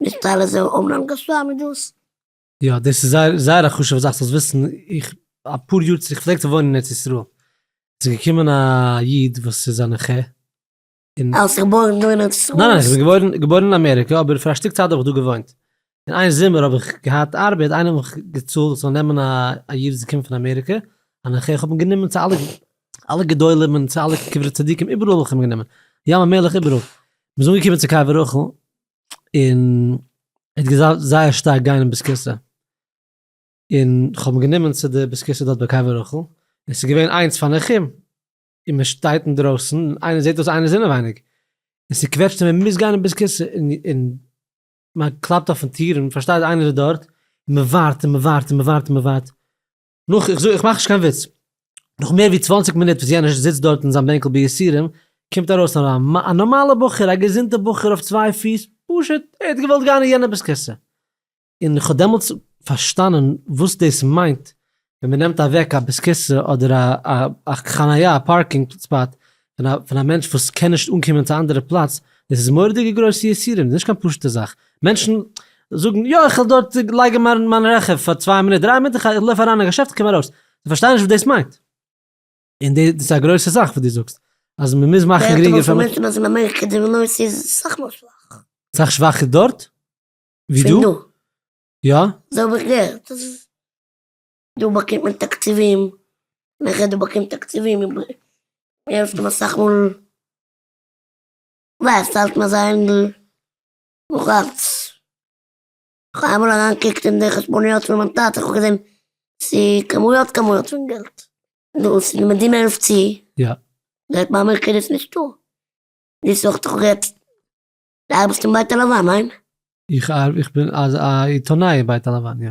B: נישט אלע זענען אמנם גשמי
A: דאס. יא דאס איז זייער זייער א חשובע זאך זאלסט וויסן, איך אפאר יאר צוריק כ'פלעג צו וואוינען אין ארץ ישראל, ס'איז געקומען א איד וואס איז א נכה, און. האסט זיך געבוירן דא אין ארץ ישראל?
B: ניין ניין איך בין געבוירן געבוירן
A: אין אמעריקע אבער פאר א שטיק צייט האב איך דא געוואוינט, און איין זומער האב איך געהאט ארבעט איינער האט מיך געצאלט איך זאל נעמען א א איד וואס איז געקומען פון אמעריקע א נכה איך האב אים גענומען צו אלע אלע גדולים און צו אלע קברי צדיקים איבעראל האב איך אים גענומען ים המלח איבעראל, מיר זענען אנגעקומען צו קבר רחל, און ער האט געדארפט זייער שטארק גיין אין בית כסא, און כ'האב אים גענומען צו די בית כסא דארט ביי קבר רחל, און עס איז געווען איינס פאר נחום, און מען שטייט אינדרויסן, און איינער זעט דאס איינער איז אינעווייניג, און ס'קוועטשט אים ער מוז גיין אין בית כסא, און און מען קלאפט אויפן טיר און מען פארשטייט איינער איז דארט, און מען ווארט און מען ווארט און מען ווארט און מען ווארט, נאך, איך זאג, איך מאך נישט קיין וויץ, נאך מער ווי צוואַנציק מינוט וואס יענער זיצט דארט אין זיין בענקל ביסורים, קומט ארויס א א נארמאלע בחור, א געזונטע בחור אויף צוויי פיס, פשוט ער האט געוואלט גיין אין יענעב'ס כסא. און כ'האב דעמאלטס פארשטאנען וואס דאס מיינט ווען מ'נעמט אוועק א בית כסא אדער א חניה, א פארקינג ספאט, פון א מענטש וואס קען נישט אנקומען צו א אנדערע פלאץ, דאס איז מורא'דיגע גרויסע יסורים, דאס איז נישט קיין פשוט'ע זאך, מענטשן זאגן יא איך וועל דארט לייגן מיין מיין רכב פאר צוויי מינוט דריי מינוט איך לויף אריין אין א געשעפט קום ארויס, זיי פארשטייען נישט וואס דאס מיינט, און דאס איז א גרויסע זאך וואס דו זאגסט אז מען מוז מאכן גרינגער פאר מענטשן. מענטשן אז אין אמעריקע
B: די נוירס איז סאך מאל שוואך. סאך שוואכער דארט?
A: ווי דא? יא. אזוי האב איך
B: געהערט. דא באקומט מען תקציבים, נאכער דו באקומט תקציבים און דו העלפסט אים אסאך מאל, ווייזט האלט מען זיי אינדל נאך אלץ, כ'האב איינמאל אריינגעקוקט אין די חשבוניות פון מיין טאטע, כ'האב געזען ס'איז כמויות כמויות פון געלט, נו און ס'איז די מדינה העלפט צו, זייט
A: באמערקט איז
B: עס נישטא, דאס זאגט דאך יעצט די ארבעסט אין בית הלבן, ניין? איך
A: בין א עיתונאי אין בית הלבן, יא.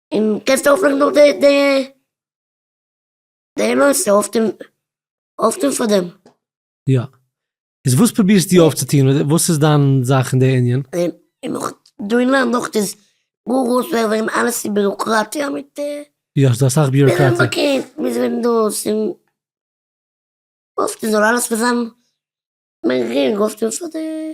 B: און קענסט אויפמאכן נאך די די די מעשה אויף דעם אויף דעם פאר דעם. יא.
A: איז וואס פרובירסטו אויפצוטון? וואס איז דיין זאך אין די ענין? און נאך
B: דא אין לאנד אויך איז גאר גאר שווער וועגן אלעס איז ביוראקראטיע מיט. יא ס'דא אסאך
A: ביוראקראטיע. מוז ווערן באקעמפט מוז ווערן
B: דאס און אויפטון זאל אלעס ווען זיין מער גרינג אויפטון פאר די.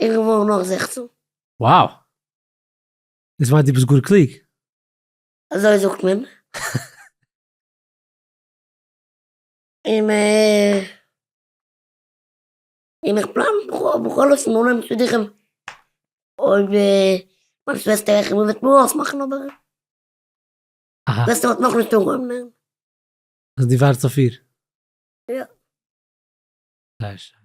B: איך וואך נאך זעכצן. Wow!
A: דאס מיינט דו ביסט גאר קלוג.
B: אזוי זאגט מען. און איך פלאן בכל אופן אנהייבן שידוכים אויב מיין שוועסטער איך און וועט מיר אויסמאכן אבער שוועסטער
A: האט נאכנישט
B: אנגעהויבן לערנען. אז
A: דו ווארטס אויף איר? יא. זייער
B: שיין.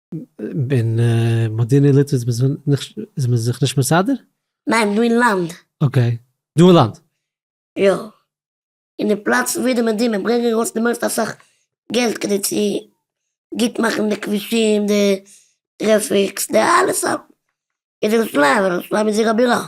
A: אין מודיעין עילית איז מען זיך נישט מסדר? ניין, דא אין
B: לאנד. אקעי. דא
A: אין לאנד? יא.
B: אין די פלאץ ווי די מדינה ברענגען ארויס די מערסטע אסאך געלט כדי צו גוט מאכן די כבישים, די טרעפיקס, די אלעס. ירושלים, ירושלים איז עיר הבירה.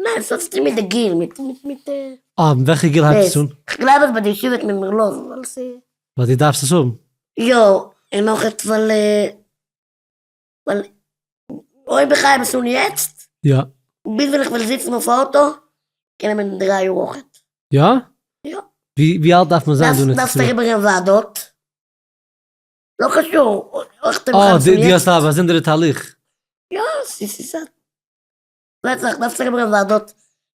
A: ניין ס'האט
B: צוטון מיט די גיל, מיט מיט די. אה, מיט וועלכע גיל הייבט
A: עס אן? כ'גלייב אז ביי די ישיבה וועט
B: מען מיר לאזן ווייל ס'. ווייל דו דארפסט עס
A: האבן? יא, און
B: נאכערצט ווייל ווייל אויב איך הייב עס אן יעצט. יא. ביז
A: ווען איך וועל זיצן
B: אויף אוטא, קען נעמען דריי יאר אויכעט. יא? יא.
A: ווי
B: ווי אלט דארף מען
A: זיין דא אין ארץ ישראל? דארפסט אריבער גיין ועדות.
B: לא חשוב. אה, דו
A: האסט א באזונדערע תהליך.
B: יא, ס'איז א. פלעצלעך דארפסטו אריבער אין וועדות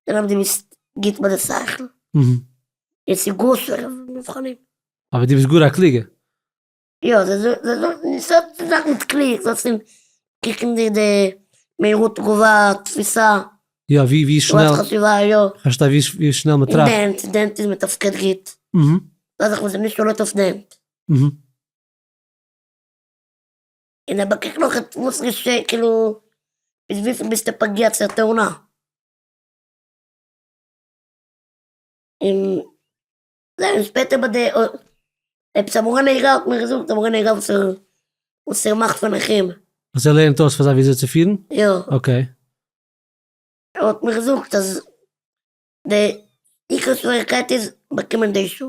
B: זען אויב דו ביסט גוט מיט די שכל,
A: און ס'איז גאר
B: שווערע מבחנים. אבער דו ביסט גאר א
A: קלוגע. יא,
B: זיי זאגן ס'האט נישט זאכן מיט קלוג, זאל צו קוקן די די מהירות תגובה, תפיסה. יא ווי ווי
A: שנעל. תגובת חשיבה, יא.
B: כ'פארשטיי ווי ווי שנעל
A: מען טראכט. און דענט, דענט איז מתפקד
B: גוט. זאל זיך מען זיך נישט שולט אויף דענט. און ער באקוקט נאך עטס וואס געשעהט כאילו ביז וויפיל ביסטו פגיע צו טענה. און זיין שפעטער ביי די עפעס א מורה נהיגה האט מיר געזאגט די מורה נהיגה וואס ער וואס ער מאכט פאר נכים. אז
A: ער לערנט אויס פאר זיי וויאזוי צו פירן? יא. אקעי.
B: ער האט מיר געזאגט אז די עיקר שוועריקייט איז באקומען די שעה.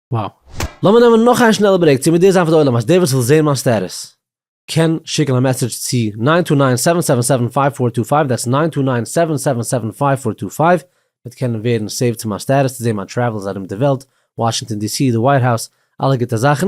A: וואו. לאמיר נעמען נאך איין שנעלע ברעיק צו מודיע זיין פאר די עולם אז דער וואס וויל זעהן מיין סטעטוס קען שיקן א מעסעדזש צו נײַן טו נײַן סעווען סעווען סעווען פֿינף פֿור טו פֿייוו דעטס נײַן טו נײַן סעווען סעווען סעווען פֿינף פֿור טו פֿייוו וועט קענען ווערן סעיווד צו מיין סטעטוס צו זעהן מיין טרעוולס ארום די וועלט וואשינגטאן די סי די ווייט האוז אלע גוטע זאכן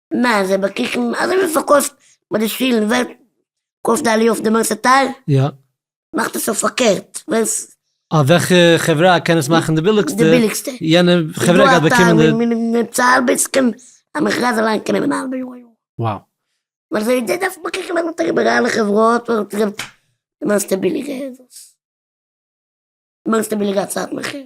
A: נע,
B: זיי באקוקן אזוי ווי מ'פארקויפט ביי די שולן, ווער קויפט די עליה אויף די מערסטע טייל, יא.
A: מאכט עס אויף
B: פארקערט, ווער ס. אה, וועלכע
A: חברה קען עס מאכן די ביליגסטע, די ביליגסטע, יענע
B: חברה גייט
A: באקומען די. איז דא א טייל ווי מ'צאל ארבעטס
B: קען א מכרז אליין קען נעמען א האלבע יאר א יאר.
A: וואו. נאר זיי
B: זיי דארפן באקוקן אז מ'טאר איבער אלע חברות ווער האט געבט די מערסטע ביליגע עדס, מערסטע ביליגע הצעת מחיר.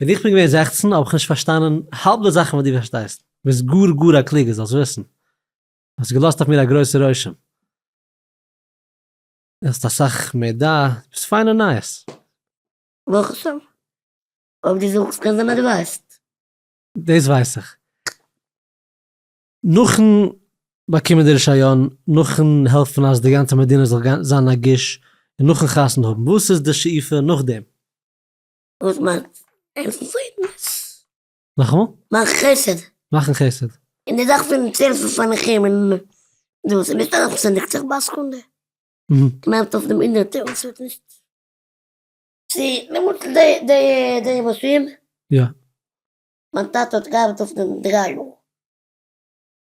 A: ווען איך בין געווען זעכצן האב איך נישט פארשטאנען האלב די זאכן וואס דו פארשטייסט, ביסט גאר גאר א קלוגער זאלסט וויסן, האסט געלאזט אויף מיר א גרויסע רושם, דו האסט אסאך מידע, דו ביסט פיינע נייעס. ברוך השם. אויב דו זאגסט קען זיין אז דו
B: ווייסט. דאס ווייס
A: איך. נאכן באקומען די רישיון, נאכן העלפן אז די גאנצע מדינה זאל זיין נגיש, און נאכן חתונה האבן, וואס איז די שאיפה נאכדעם? וואס
B: מיינט העלפן פרעמדע? מאכן וואס?
A: מאכן חסד.
B: מאכן חסד.
A: און די זאך פון צו
B: העלפן פאר נכים און דאס איז נישט אלעס וואס ער דערקט זיך ביי א סעקונדע. מיינט
A: אויף דעם הונדערטער
B: וואס האט נישט צו למשל די די די מאשין. יא.
A: מיין
B: טאטע האט געארבעט אויף דעם דריי יאר.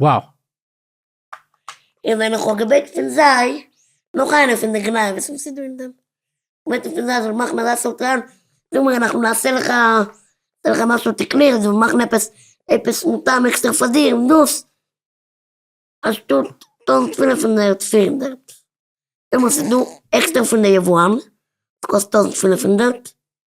B: וואו! און ווען איך האב געבעגט פון זיי נאך איינע פון די גניבות וואס איז דא אין דעם, געבעטן פון זיי זיך מאכן אזא סולטאן, זאג מיר אנחנו נעשה לך נעשה לך משהו תקני, זיי מאכן עפעס עפעס מותאם עקסטער פאר דיר און דאס, א שטאט טויזנט פֿינף הונדערט פֿיר הונדערט, דעמאלטס איז דא עקסטער פון די יבואן, קאסט טויזנט פֿינף הונדערט,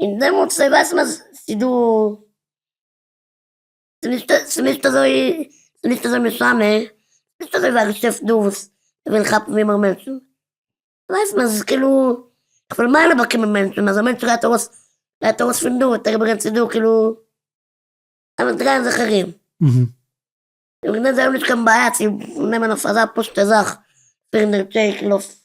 B: און דעמאלטס אויב ווייסט מען אז ס'איז דא, ס'איז נישט אזוי, ס'איז נישט אזוי משנה, נישט אזוי ווי א געשעפט דא וואס וויל כאפן ווי מער מענטשן, ווייסט מען אז ס'איז כאילו, כ'וועל מילא באקומען מענטשן, אז א מענטש גייט ארויס, גייט ארויס פון דא וועט ער איבערגיין צו דא, כאילו אלע דרייען זיך ארום. און וועגן דעם זיי האבן נישט קיין בעיה צו נעמען אויף אזא פשוט'ע זאך פֿיר הונדערט טשעק, כאילו אויף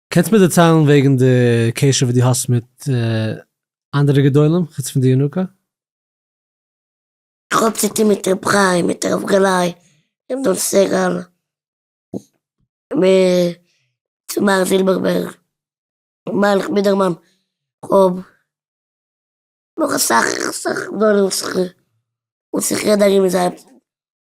A: קענסט מיר דערציילן וועגן די קשר וואס דו האסט מיט אנדערע גדולים חוץ פון די ינוקא? איך
B: האב צוטון מיט ר' חיים, מיט הרב גלאי, ר' דוב סגל, מיט מר. זילבערבערג, מיילעך בידערמאן, כהאב נאך אסאך אסאך גדולים וואס איך רעד ארום מיט זיי.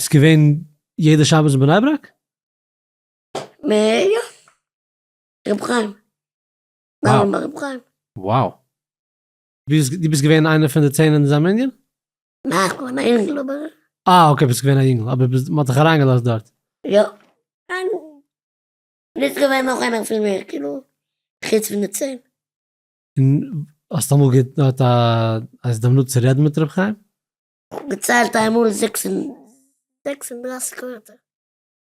B: איז געווען
A: יעדע שבת אין בני ברק? מ יא. רבי חיים.
B: וואו? ביי רבי חיים.
A: וואו. דו ביסט געווען איינער פון די צען אין אזא מנין? ניין, איך
B: בין געווען א יונגל אבער. אה אקעי ביסט געווען א
A: יונגל אבער ביסט מ'האט דיך אריינגעלאזט דארט. יא. און
B: איז געווען נאך איינער
A: פון מיר כאילו חוץ פון די צען? און האסט אמאל געהאט א הזדמנות צו רעדן מיט רבי חיים? כ'האב געציילט
B: איינמאל זעקס און דרייסיג ווערטער,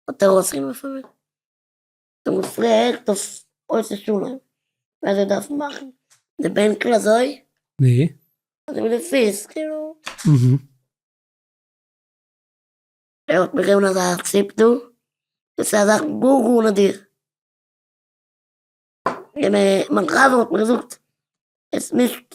B: האט ער אויסגענומען פון מיר, דו האסט געהערט אויף עושה שלום ווי אזוי דארף מען מאכן די בענקל אזוי? נו?
A: אזוי מיט די
B: פיס כאילו. אהה. ער האט מיר געגעבן אזא ציפ דא, דאס איז א זאך גאר גאר נאדיר, און מיין חבר האט מיר געזאגט עס נישט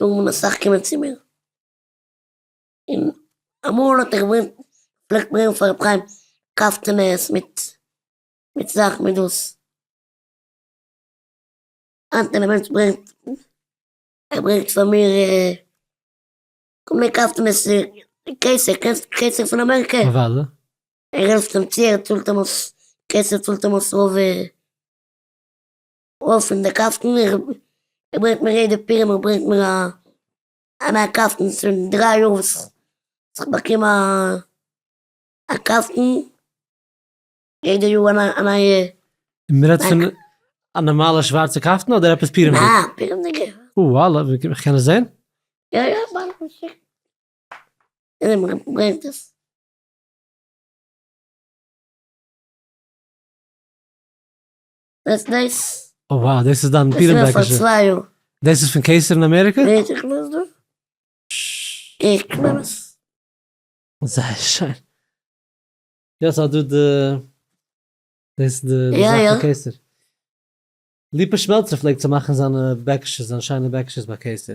B: האבן אסאך קומען צו מיר, און אמאל האט ער געברענגט, פלעגט ברענגען פאר רבי חיים קאפטענעס מיט מיט זאך מיט דאס, היינט ווען א מענטש ברענגט, ער ברענגט פאר מיר כל מיני קאפטענעס, קעיסער, קענסט קעיסער פון אמעריקע? אוודאי.
A: ער העלפט אים
B: צו, ער צאלט אים אויס, קעיסער צאלט אים אויס רוב. אויף פון די קאסטן, איך ברענג מיר יעדע פירמע ברענגט מיר א א נייע קאסטן, ס'איז שוין דריי יאר וואס איך באקום א א קאסטן, יעדע יאר א נייע א נייע. מען רעדט פון
A: א נארמאלע שווארצע קאפטן אדער עפעס פירעמדיג? ניין פירעמדיגע.
B: אוי וואלע, איך
A: קען עס זען? יא יא ווארט
B: איך שיק דיר מען ברענגט עס. וועסט דאס. אוי וואו דאס איז דיין
A: פירענדעקישע. דאס איז
B: פון קיסר אין
A: אמעריקע? ווער
B: איך לאז דא?
A: איך קלעם עס. זייער שיין. יעצט אז דו די. דאס די זאך פון קיסר. ליפא שמעלצער פלעגט צו מאכן זיינע בעקישעס זיינע שיינע בעקישעס ביי קיסר.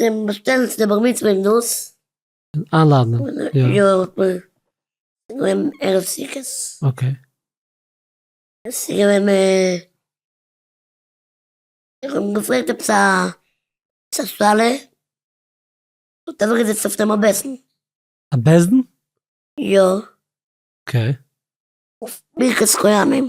B: זיי באשטעלן צו די בר מצוה און דאס. איינלאדענען
A: יא. יא האט
B: מען געווען ערב סוכות. אקעי. עס איז געווען איך האב געפרעגט עפעס א שאלה און האט אוועקגעזעצט אויף דעם א בעסן. א בעסן?
A: יא. אקעי. אויף
B: ברכת כהנים.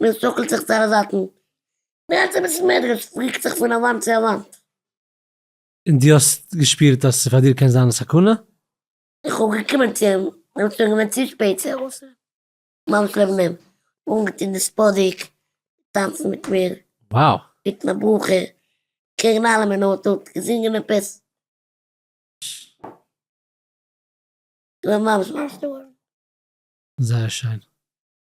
B: מען שאקלט זיך צו אלע זייטן, מען רעדט אביסל מער, דער קאפ ריקט זיך פון א וואנט צו א וואנט.
A: און דו האסט געשפירט אז פאר דיר קען זיין א סכנה? איך האב
B: געקומען צו אים, ער איז שוין געווען צו שפעט צו ארויסנעמען, ממש לעבן אים, אנגעטון די ספאדיק, געטאנצן מיט מיר, געבעטן א
A: ברכה,
B: קעגן אלעם אין אויטא, געזינגען עפעס. איך בין ממש ממש געווארן. זייער
A: שיין.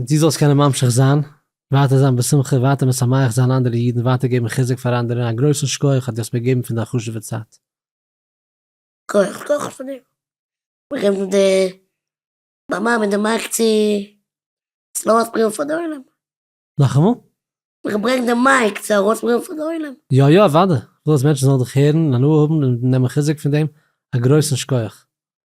A: דו זאלסט קענען ממשיך זיין, ווייטער זיין בשמחה, ווייטער משמח זיין אנדערע אידן, ווייטער געבן חיזוק פאר אנדערע, און א גרויסן שכוח אז דו האסט מיר געגעבן פון דיין חשוב'ע צייט. כח כח פאר דיר. ברענג
B: פון די במה מיט די מייק צו סלאווארט פריוו פאר די עולם.
A: נאכאמאל? איך ברענג די
B: מייק צו ארויס פריוו פאר די עולם. יא יא אוודאי, איך וויל
A: אז מענטשן זאלן דיך הערן און הנאה האבן און נעמען חיזוק פון דעם, א גרויסן שכוח.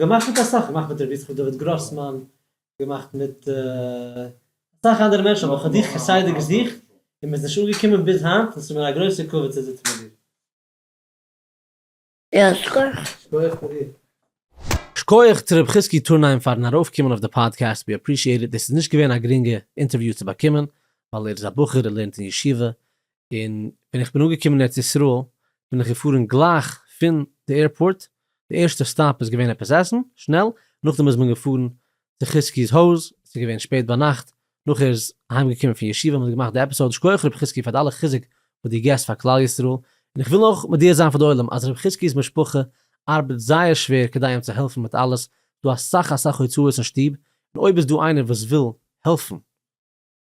B: געמאכט מיט
A: אסאך, געמאכט מיט רבי יצחק דוד גראסמאן, געמאכט מיט אסאך אנדערע מענטשן, אבער כ'האב דיך כסדר געזוכט און מ'איז נישט אנגעקומען ביז היינט, און ס'איז מיר א גרויסער כבוד צו זיצן מיט דיר.
B: שקויעך
A: פאר דיר. שקויעך צו רבי חזקי טורנהיים פארן ארויף קומען אויף די פאדקעסט, ווי עפרישיעט איט, דאס איז נישט געווען א גרינגע אינטערוויו צו באקומען, ווייל ער איז א בחור ער לערנט אין ישיבה, און ווען איך בין אנגעקומען אין ארץ ישראל בין איך געפארן גלייך פון די עירפארט, די ערשטע סטאפ איז געווען עפעס עסן שנעל, נאכדעם איז מען געפארן צו חזקי'ס הויז, ס'איז געווען שפעט ביינאכט, נאך ער איז אהיים געקומען פון ישיבה האבן מיר געמאכט די עפיסאוד, שכוח ר' חזקי פאר די אלע חיזוק וואס דו גיבסט פאר כלל ישראל, און איך וויל אויך מודיע זיין פאר די עולם אז ר' חזקי'ס משפחה ארבעט זייער שווער כדי אים צו העלפן מיט אלעס, ס'דא אסאך אסאך הוצאות אין שטוב, און אויב איז דא איינער וואס וויל העלפן.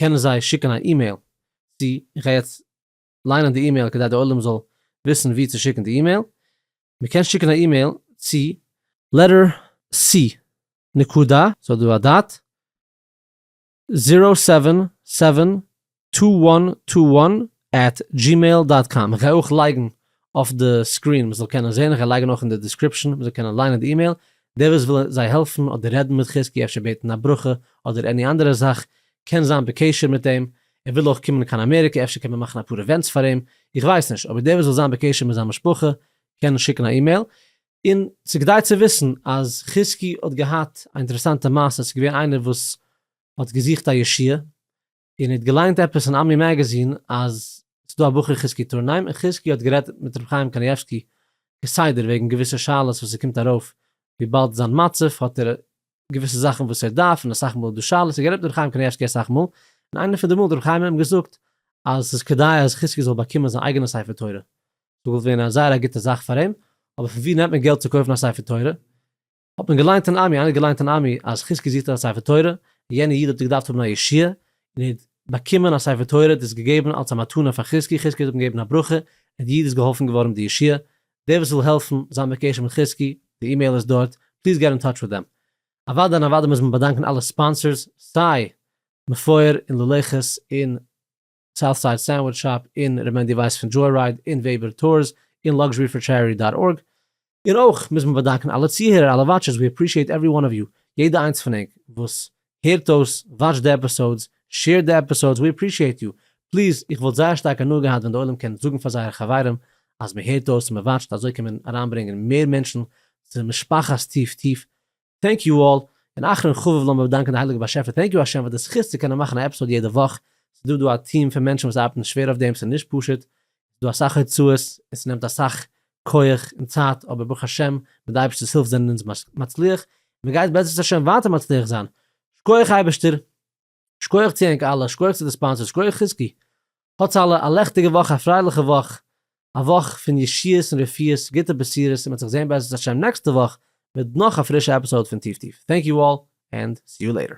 A: קענען זיי שיקן א אימעיל צו, איך גיי יעצט ליינען די אימעיל כדי די עולם זאל וויסן וואו צו שיקן די אימעיל, מען קען שיקן א אימעיל צו letter c נקודה, ס'האט דא א דאט, זירא סעווען סעווען טו וואן טו וואן עט דזשימעיל דאט קאם, איך גיי אויך לייגן אויף די סקרין מ'זאל קענען זעהן, איך וועל לייגן אויך אין די דיסקריפשאן מ'זאל קענען ליינען די אימעיל, דער וואס וויל זיי העלפן אדער רעדן מיט חזקי אפשר בעטן א ברכה אדער עני אנדערע זאך קען זיין בקשר מיט אים, ער וויל אויך קומען קיין אמעריקע אפשר קען מען מאכן אפאר אווענטס פאר אים, איך ווייס נישט, אבער דער וואס וויל זיין בקשר מיט זיין משפחה קען שיקן א אימעיל. און ס'איז כדאי צו וויסן אז חזקי האט געהאט א אינטערעסאנטע מעשה, ס'איז געווען איינער וואס האט געזוכט א ישועה, איר ניט געליינט עפעס אין עמי מעגעזין אז ס'איז דא א בחור חזקי טורנהיים און חזקי האט גערעדט מיט ר' חיים קנייבסקי כסדר וועגן געוויסע שאלות וואס ס'קומט ארויף וויבאלד זיין מצב האט ער געוויסע זאכן וואס ער דארף און אסאך מאל איז דא שאלות ער גערעדט מיט ר' חיים קנייבסקי אסאך מאל און איינע פון די מאל האט ר' חיים אים געזאגט אז ס'איז כדאי אז חזקי זאל באקומען זיין אייגענע ספר תורה ס'וואלט ווען א זייער א גוטע זאך פאר אים אבער פון ווי נעמט מען געלט צו קויפן א ספר תורה האט מען געליינט אין עמי, איינער האט געליינט אין עמי אז חזקי זוכט א ספר תורה, יענע איד האט געדארפט האבן א ישועה, און ער האט באקומען א ספר תורה, ער האט עס געגעבן אלס א מתנה פאר חזקי, חזקי האט אים געגעבן א ברכה, און די איד איז געהאלפן געווארן מיט די ישועה, דער וואס וויל העלפן, זיין בקשר מיט חזקי, די אימעיל איז דארט, פליז געט אין טאטש מיט דעם. אוודאי און אוודאי מוז מען באדאנקען אלע ספאנסערס, סיי מפואר און ללכת און סאוט סייד סענדוויטש שאפ, און ר' מענדי ווייס פון דזשוי רייד, און וועבער טורס, און לאקזשערי פאר טשעריטי דאט ארג. און אויך מוז מען באדאנקען אלע צוהערער, אלע וואטשערס, ווי עפרישיעט עוורי וואן אוו יו, יעדע איינס פון ענק וואס הערט אויס, וואטשט די עפיסאודס, שעירט די עפיסאודס, ווי עפרישיעט יו, פליז, איך וואלט זייער שטארק הנאה געהאט ווען די עולם קען זאגן פאר זייערע חברים אז מען הערט אויס און מען וואטשט, אזוי קען מען אריינברענגען מער מענטשן צו משפחת טיף טיף, טענק יו אלל, און אחרון חביב לאמיר באדאנקען די הייליגע באשעפער טענק יו השם פאר די זכות צו קענען מאכן א עפיסאד יעדע וואך, ס'איז דא דא א טיעם פון מענטשן וואס ארבעטן שווער אויף דעם ס'איז נישט פשוט, ס'איז דא אסאך הוצאות און ס'נעמט אסאך כח און צייט אבער ברוך השם מיט די אייבערשטער'ס הילף זענען אונז מצליח און מ'גייט בעזרת השם ווייטער מצליח זיין, שכוח אייבערשטער! שקויעך צו ענק אלע, שקויעך צו די ספאנסערס, שקויעך חזקי. האטס אלע א לעכטיגע וואך א פרייליכע וואך, א וואך פון ישועות און רפואות, גוטע בשורות און מען וועט זיך זעהן בעזרת השם נעקסטע וואך מיט נאך א פרישע עפיסאוד פון טיף טיף. טענק יו אלל ענד סי יו לעיטער.